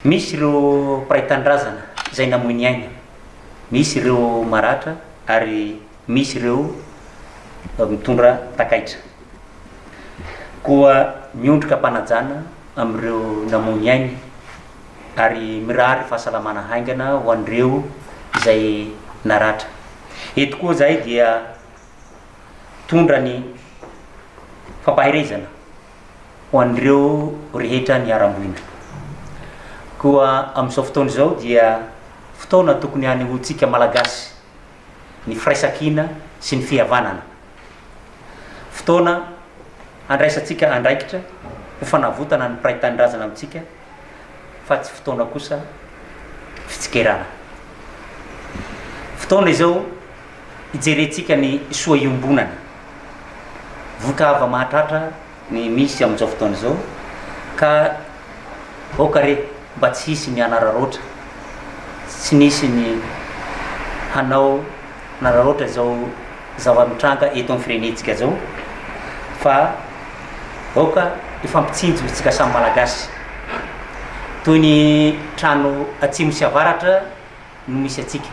Misy ireo mpiray tanindrazana izay namoy ny ainy, misy ireo maratra ary misy ireo mitondra takaitra. Koa miondrika am-panajana amin'ireo namoy ny ainy ary mirary fahasalamana haingana ho an'ireo izay naratra. Eto koa izahay dia mitondra ny fampaherezana ho an'ireo rehetra niharam-boina. Koa amin'izao fotoana izao dia fotoana tokony hanehoantsika Malagasy ny firaisankina sy ny fihavanana. Fotoana handraisantsika andraikitra ho fanavotana ny mpiray tanindrazana amintsika fa tsy fotoana kosa fitsikerana. Fotoana izao. hijerentsika ny soa iombonana. Vohitra avo mahatratra ny misy amin'izao fotoana izao ka aoka re mba tsy hisy ny hanararaotra, tsy nisy ny hanao hanararaotra izao zava-mitranga eto amin'ny firenentsika izao fa aoka hifampitsinjo isika samy Malagasy. Toy ny trano atsimo sy avaratra no misy antsika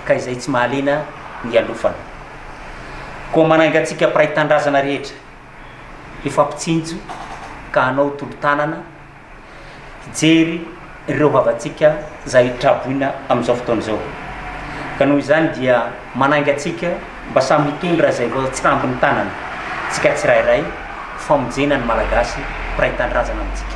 ka izay tsy mahaliana ialofana. Koa manainga antsika mpiray tanindrazana rehetra, hifampitsinjo ka hanao tolo-tanana hijery ireo havantsika izay traboina amin'izao fotoana izao. Ka noho izany dia manainga antsika mba samy hitondra izay voatsambin'ny tanana tsika tsirairay ho famonjena ny Malagasy mpiray tanindrazana amintsika.